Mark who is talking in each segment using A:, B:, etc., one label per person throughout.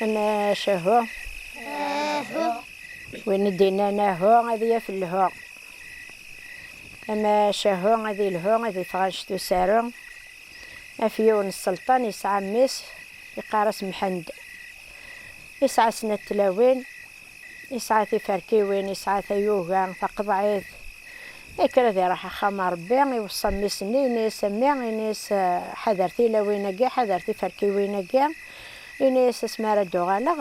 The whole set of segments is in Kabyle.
A: Amacahu. Ahu. Win i d-innan ahu ad yaf lhu. Amacahu ad ilhu ad itɣanct usaru. Af yiwen sselṭan yesɛa mmi-s iqqar-as Mḥend. Isɛa snat tlawin. Yesɛa tiferkiwin, yesɛa tayuga taqeḍɛit, yekker ad iruḥ axxam a Rebbi, iweṣṣa mmi-s n ini-s, a mmi, ini-as, ḥader tilawin-agi, ḥader tiferkiwin-agi, ini-as asmi ara d-uɣaleɣ,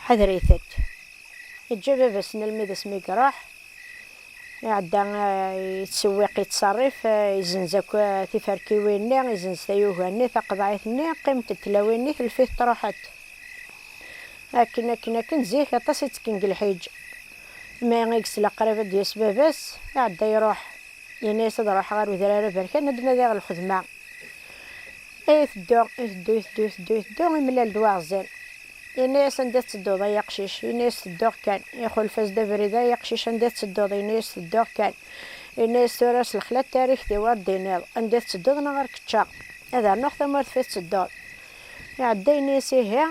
A: ḥader-itent. Yeǧǧa baba-s n lmid-is mi iruḥ, iɛedda yettsewiq, yettṣerrif, izenz akk tiferkiwin-nni, izenz tayuga-nni taqeḍɛit-nni, qqiment-d tlawin-nni, telfit truḥ-d. Akken akken akken zik aṭas i ttekken deg lḥiǧ. Mi i yesla qrib ad d-yas baba-s, iɛedda iruḥ. Yenna-yas ad ruḥeɣ ɣer udrar aberkan ad d-nadiɣ lxedma. Iteddu, iteddu, iteddu, iteddu, iteddu, imlal-d waɣzen. Yenna-yas anda i tettedduḍ ay aqcic? Yenna-yas tedduɣ kan. Ixulef-as-d abrid, ay aqcic anda i tettedduḍ? Yenna-yas tedduɣ kan. Yenna-yas tura s lexla n tarrigt-iw ar d-tiniḍ anda i tettedduḍ neɣ ar k-ččeɣ. Ad rnuɣ tamurt fi tettedduḍ. Iɛedda yenna-yas ihi,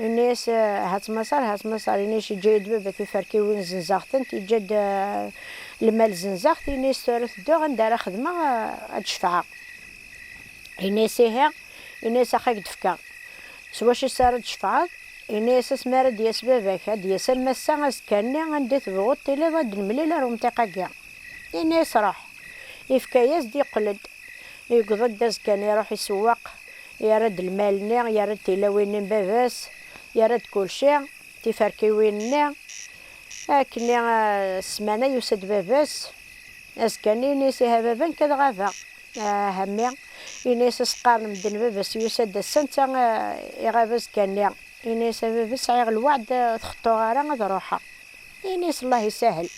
A: yenna-yas hat Maṣer, hat Maṣer, yenna-yas yeǧǧa-yi-d baba tiferkiwin zenzaɣ-tent, yeǧǧa-d lmal zenzaɣ-t, yenna-yas tura tedduɣ anda ara xedmeɣ ad d-cefɛeɣ, yenna-yas ihi, yenna-yas ax ak d-fkeɣ s wacu s ara d-cefɛeḍ, yenna-yas asmi ara d-yas baba-k, ad d-yas am ass-a, azekka-nni, anda i tebɣuḍ tiliḍ ad d-nemlil ar umṭiq-agi, yenna-yas ṛuḥ, yefka-yas-d, yeqqel-d, yewweḍ-d azekka-nni iṛuḥ isewweq, Yerra-d lmal-nni, yerra-d tilawin-nni n baba-s, yerra-d kulci, tiferkiwin-nni. Akkenni, ssmana yusa-d baba-s, azekka-nni yenna-as, Ihi a baba, nekk ad ɣabeɣ. Ah, a mmi! Yenna-as, as-qqaren medden baba-s yusa-d ass-a, netta iɣab azekka-nni. Yenna-as, a baba, sɛiɣ lweɛd, ur t-xeṭṭuɣ ara, ad ruḥeɣ. Yenna-as, Allah isahel.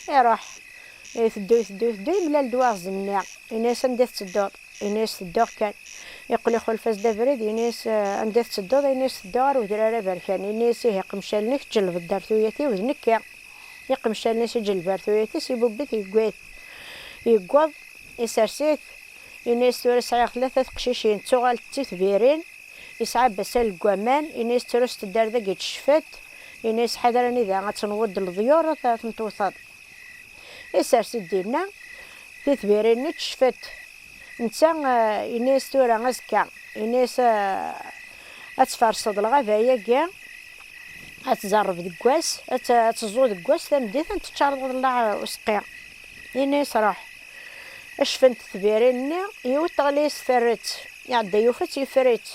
A: Iruḥ. Iteddu, iteddu, iteddu, yemlal-d waɣzen-nni. Yenna-as, anda i tettedduḍ? Ini-as tedduɣ kan. Yeqqel ixulef-as-d abrid, ini-as, Anda i tettedduḍ? Ini-as tedduɣ ɣer Wedrar Aberkan. Ini-as, Ih, iqemcalen-ik ǧelbed-d ar tuyat-iw d nekki. Iqemcalen-is iǧeleb ar tuyat-is, ibubb-it, yewwi-t. Yewweḍ, isers-it. Ini-as, Tura sɛiɣ tlata teqcicin, ttuɣalent d titbirin. Yesɛa abbasal deg waman. Ini-as, Tura s teddarda i yettcef-d. Ini-as, Ḥader anida ad tenweḍ d leḍyur, ad ten-tewteḍ. Isers-d dinna titbirin-nni teccef-d. Netta eh, yenna-yas tura azekka, yenna-yas eh, ad tfarseḍ lɣaba-agi, ad tzerreb deg wass, ad teẓẓu deg wass, tameddit ad teččareḍ ḍellaɛ useqqi. Yenna-yas ruḥ. Acfent tbirin-nni, yiwet teɣli-yas terret, iɛedda yufa-tt yeffer-itt.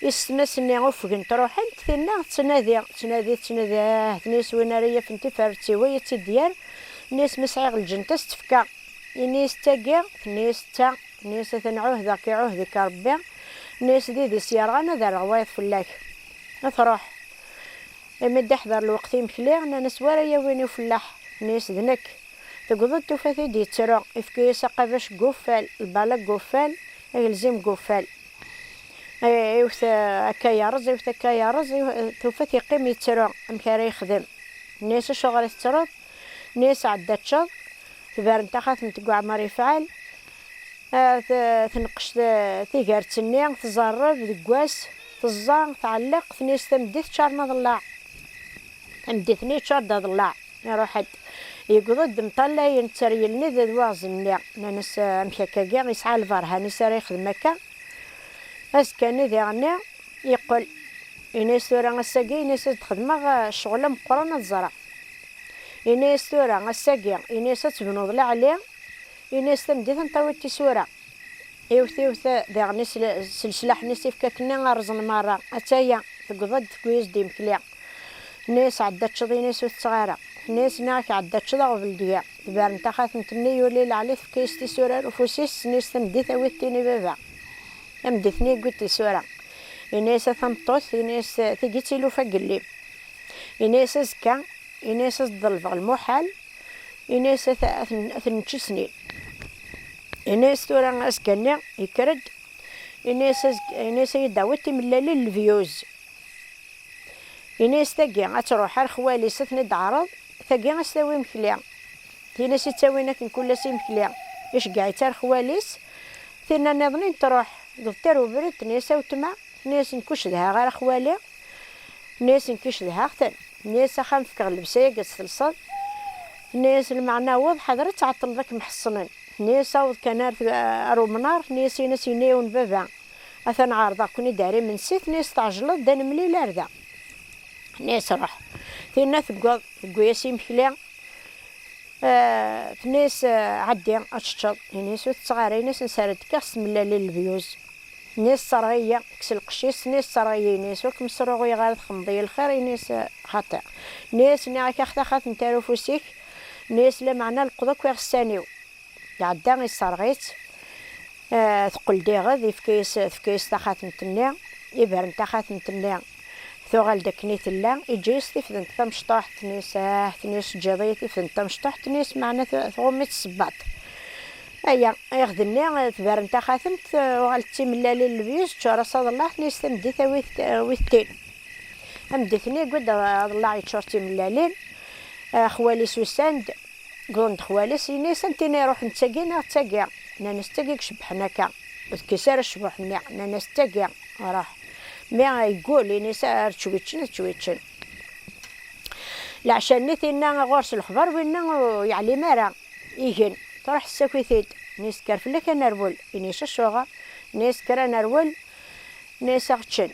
A: Isetma-s-nni ufgent ruḥent, tinna tettnadi, tettnadi, tettnadi, ah, tenniyes win ara yafen tifert siwa i tt-id-yerr, tenniyes ma sɛiɣ lǧent-as tefka, inniyes tagi, tenniyes d ta, tenniyes a ten-ɛuhdeɣ k-iɛuhd-ik Rebbi, tenniyes d idis yerɣan ad rreɣ wayeḍ fell-ak. A truḥ. Imi d-iḥder lweqt imekli, nnan-as wara yawin i ufellaḥ, tenniyes d nekk. Tegweḍ-d tufa-t-id yettru, ifka-yas aqabac deg uffal, lbala deg uffal, agelzim deg uffal. iwet akka yerreẓ iwet akka yerreẓ tufa-t yeqqim yettru amek ara yexdem nni-as acuɣer i tettruḍ nni-as ɛedda ččeḍ tbaren taxatemt deg uɛmar yefɛal tenqec tigert-nni tẓerreb deg wass teẓẓa tɛelleq tni-as tameddit ččar ma ḍellaɛ Anda-ten iččur d aḍellaɛ, iruḥ-d. Yewweḍ-d mṭallayen tteryelni d waɣzen-nni. Nnan-as, Amek akka-agi, yesɛa lberhan-is ara yexdem akka? Azekka-nni diɣenni yeqqel, yenna-as, Tura ass-agi, yenna-as, ad d-xedmeɣ ccɣel ameqqran ad ẓreɣ. Yenna-as, Tura ass-agi, yenna-as, ad tebnuḍ leɛli, yenna-as, tameddit ad n-tawiḍ tisura. Iwet iwet diɣenni s leslaḥ-nni s ifkakken-nni, rrẓen merra. Atta-ya, tewweḍ-d tewwi-as-d imekli. Tenna-yas, Ɛeddi ad teččeḍ ini-s ur tetteɣ ara. Tenna-yas, Nniɣ-ak ɛeddi ad teččeḍ aɣbel deg-a. Tberren taxxat n temmi, yuli Laɛli tefka-yas tisura ar ufus-is, tessen-yas tameddit awi-t tin i baba. Tameddit-nni yewwi-d tisura. Yenna-yas, A tameṭṭut, yenna-yas, tigi d tilufa n yelli. Yenna-yas, Azekka, yenna-yas, ad s-d-ḍelbeɣ lmuḥal, yenna-yas, ad ten-nečč i snin. Yenna-yas, Tura azekka-nni yekker-d, yenna-yas, Yenna-yas, ad yi-d-tawiḍ timellalin n levyuz. Ini-as tagi ad truḥ ar xwali-s ad ten-id-teɛreḍ, tagi ad s-tawi imekli. Tin-is ittawin akken kul ass imekli, iceggeɛ-itt ar xwali-s. Tinna nniḍen in truḥ, dɣ terr ubrid, tenna-as a wetma, tenna-as nekk ur cedhaɣ ara xwali, tenna-as nekki cedhaɣ-ten, tenna-as axxam fkeɣ llebsa-yagi ad tt-telseḍ, tenna-as lmeɛna aweḍ ḥader ad tɛeṭṭleḍ ad kem-ḥeṣnen, tenna-as aweḍ kan ar umnar, tenna-as in-as yenna-yawen baba Atan ɛerḍeɣ-ken-id ar imensi, tenna-yas tɛejleḍ-d ad nemlil ar da. Tenna-yas ruḥ. Tinna teggeḍ, tewwi-yas imekli, tenna-yas ɛeddi ad teččeḍ, ini-yas ur tetteɣ ara, ini-yas nessared tekkiɣ s tmellalin lebyuz, tenna-yas sserɣ-iyi, kkes lqecc-is, tenna-yas sserɣ-iyi, ini-yas ur kem-sruɣuyeɣ ara txedmeḍ-iyi lxir, ini-yas xaṭi. Tenna-yas nniɣ-ak axtax ad tent-ar ufus-ik, tenna-yas lameɛna leqḍ akk iɣessan-iw. Iɛedda, isserɣ-itt, teqqel-d iɣed, ifka-yas, tefka-yas taxatemt-nni, ibren taxatemt-nni, tuɣal-d akken i tella, iǧǧa-yas tifdent tamecṭuḥt, tenna-yas, ah, tenna-yas, teǧǧiḍ-iyi tifdent tamecṭuḥt, tenna-yas, meɛna tɣumm-itt tsebbaḍt. Aya, iɣed-nni, tberren taxatemt, uɣal-d d timellalin n lebyuz, teččur-as aḍellaɛ, tenna-yas, tameddit a wi, a wi tettin. Tameddit-nni, yewwi-d aḍellaɛ yeččur d timellalin, xwali-s usan-d, Ggullen-d xwal-is, ini-as anti n iruḥen d tagi neɣ d tagi? Nnan-as d tagi icebbḥen akka. Ur tekkis ara cbuḥ-nni, nnan-as d tagi, ruḥ. Mi yeggul, ini-as ar ččwiččen ad ččwiččen. Leɛca-nni tinna ɣur-s lexbar winna ur yeɛlim ara. Igen, truḥ tessaki-t-id, ini-as kker fell-ak a nerwel, ini-as acuɣer? Ini-as kker a nerwel, ini-as ad ɣ-ččen.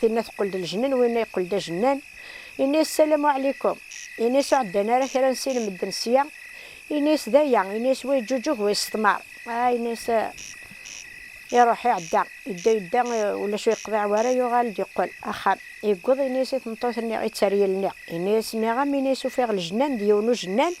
A: Tinna teqqel-d lejnen, winna yeqqel-d ajennan. Ini-as ssalamu ɛlikum. Ini-as ur ɛeddan ara kra n sin n medden sya. Ini-as d aya. Ini-as wa yeǧǧuǧug, wa yesseḍmar. Ah, ini-as iruḥ, iɛedda. Yedda, yedda, ulac ur yeqḍiɛ wara, yuɣal-d yeqqel axxam. Yewweḍ, ini-as i tmeṭṭut-nni, i tteryel-nni. Ini-as, nniɣ-am, ini-as ufiɣ lejnan d yiwen ujennan.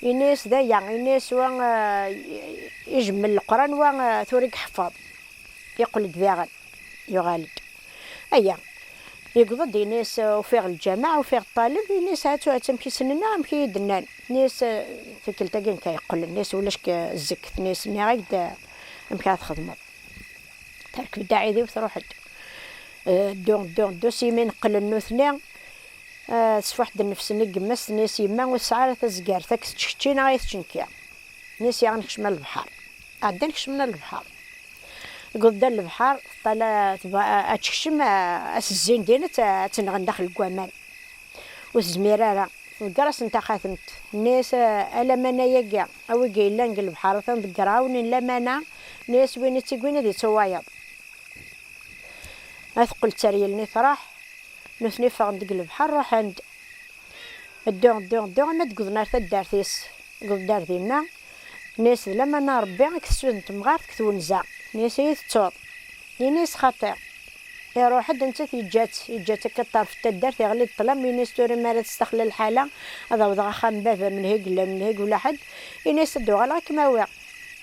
A: Ini-yas d aya, ini-yas wa ijemmel leqran, wa tura i iḥeffeḍ. Yeqqel-d daɣen, yuɣal-d. Aya, yewweḍ-d ini-yas ufiɣ lǧameɛ, ufiɣ ṭṭaleb, ini-yas ha-tt-u ha-tt-u amek i ssnen-aɣ, amek i yi-d-nnan. Ini-yas tikkelt-agi nekk a yeqqel, ini-yas ulac deg zzekk, ini-yas nniɣ-ak-d amek ara txedmeḍ. Terkeb-d aɛidiw truḥ-d. Ddu, ddu, ddu, s yimi neqqlen nutni. Tesfuḥ-d nnefs-nni deg yemma-s, tenna-as, Yemma, ur tesɛi ara tazgart, ad k-tečč kečči neɣ ad yi-tečč nekki. Tenna-as, Yaɣ ad nekcem ar lebḥer. Ɛeddan kecmen ar lebḥer. Deg uwḍ-d ar lebḥer, teṭṭala tebɣa ad tekcem, ad tezzin din, ad tt-nɣen daxel deg waman. Ur tezmir ara. Tḍegger-asen taxatemt, tenna-as, A lamana-agi, a wigi yellan deg lebḥer, atan ḍegger-awen n lamana, tenna-as, Win i tt-iwwin ad yeţţuwayeḍ. Ad teqqel d taryelnit, truḥ. Nutni ffɣen-d deg lebḥer, ruḥen-d. Ddu, ddu, ddu, arma d-wwḍen ar taddart-is. Deg uḍeddar dinna, tenna-yas, D lamana n Rebbi i k-tesuden temɣart deg twenza. Tenna-yas, Ad iyi-tettuḍ? Ini-yas, Xaṭi. Iruḥ-d, nettat yeǧǧa-tt. Yeǧǧa-tt akka ṭṭerf n taddart, iɣli-d ṭṭlam, ini-yas, Tura mi ara testaxla lḥala, ad awḍeɣ axxam n baba-m, lhegg, lhegg ula ḥedd. Ini-yas, Ad d-uɣaleɣ ad kem-awiɣ.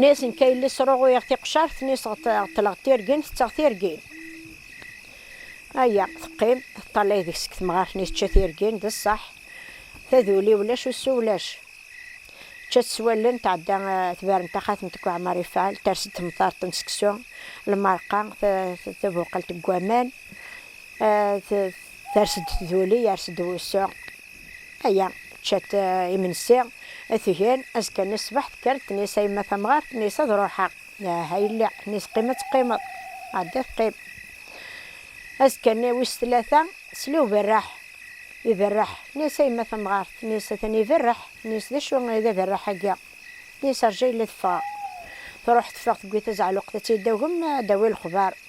A: Nes n Kayelli sruɣuyeɣ tiqcart, nes ɣeṭṭleɣ tirgin, tetteɣ tirgin. Aya, teqqim, teṭṭalay deg-s deg temɣart, nes tečča tirgin, d ṣṣeḥ, taduli ulac, usu ulac. Tečča-tt s wallen, tɛedda tberren taxatemt deg uɛmar ifɛel, ters-d temṭart n seksu, lmerqa, tabuqalt deg waman, ters-d tduli, yers-d wusu. Aya, ččat imensi, tgen, azekka n ṣṣbeḥ tekker, tenna-as a yemma tamɣart, tenna-as ad ruḥeɣ, ah a yelli, tenna-as qim ad teqqimeḍ, ɛedda teqqim. Azekka-nni wis tlata, tesla uberreḥ, iberreḥ, tenna-as a yemma tamɣart, tenna-as atan iberreḥ, tenna-as d acu i d aberreḥ-agi, tenna-as rǧa yella ad ffɣeɣ. Truḥ teffeɣ tewwi tazeɛluqt ad tili ddaw-m, ad d-tawi lexbar.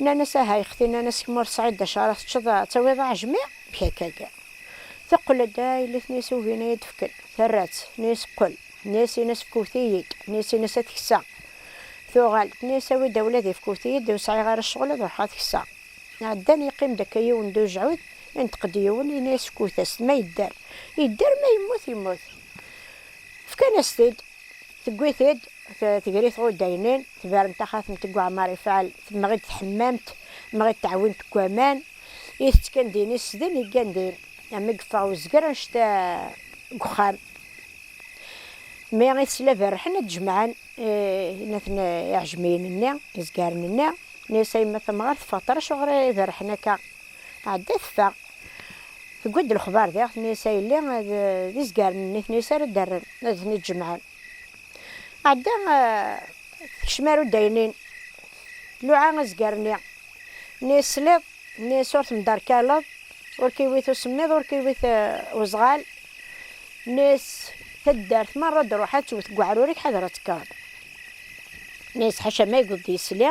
A: Nnan-as, Aha, ay xti, nnan-as, kemm ur tesɛiḍ d acu ara teččeḍ, ad tawiḍ aɛejmi? Bkakk-agi. Teqqel-d, yelli-tnes ugin ad yi-d-fken. Terra-tt, nnan-as, qqel. Nnan-as, in-as fkewt-iyi-d. Nnan-as, in-as ad t-kkseɣ. Tuɣal-d, nnan-as, awi-d awlad-ik fkewt-iyi-d, ur sɛiɣ ara ccɣel ad ruḥeɣ ad t-kkseɣ. Ɛeddan, yeqqim-d akka yiwen d ujɛud, ineṭq-d yiwen, yenna-as, fkewt-as-t, ma yedder, yedder, ma yemmut, yemmut. Fkan-as-t-id. Tewwi-t-id, tegri tɣudaynin, tberren taxatemt deg uɛmar ifɛel, temɣi-d tḥemmamt, temɣi-d teɛwint deg waman, itett kan din, iss din, yeggan din. Am i yeffeɣ wezger annect-a deg uxxam. Mi i tesla berrḥen ad d-jemɛen innaten iɛejmiyen-nni, izgaren-nni, nni-as a yemma tamɣart, ffɣet ar acuɣer i berrḥen akka? Tɛedda teffeɣ. Tewwi-d lexbar diɣ tenna-as a yelli ad d izgaren n nitni-s ara d-rren, ad ten-id-jemɛen. Tɛedda tekcem ar udaynin, tluɛa azger-nni. Tenna-as tesliḍ? Tenna-as ur temderkaleḍ, ur k-iwwit usemmiḍ, ur k-iwwit uzɣal. Tenna-as taddart merra ad d-truḥ ad tewwet deg uɛrur-ik ḥader ad tekkreḍ. Tenna-as ḥaca ma yewweḍ-d yisli.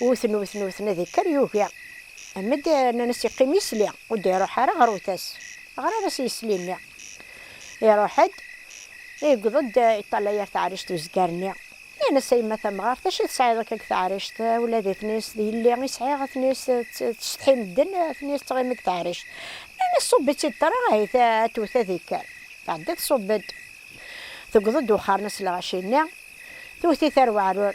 A: Wten, wten, wten, ad ikker yugi. Amed nnan-as iqqim isli, ur d-iruḥ ara ɣer utas. Ɣriɣ-as isli-nni. Iruḥ-d, yewweḍ-d, yeṭṭalay ar teɛrict uzgar-nni. Nnan-as a yemma tamɣart, acu tesɛiḍ akka deg teɛrict? Ula d itni-s, d yelli i sɛiɣ, itni-s tessetḥi medden, itni-s ttɣimi deg teɛrict. Nnan-as ṣubb-itt-id ṭra, ahit ad twet ad ikker. Tɛedda tṣubb-d. Tewweḍ-d wexxar-nnes lɣaci-nni, twet-it ar weɛrur.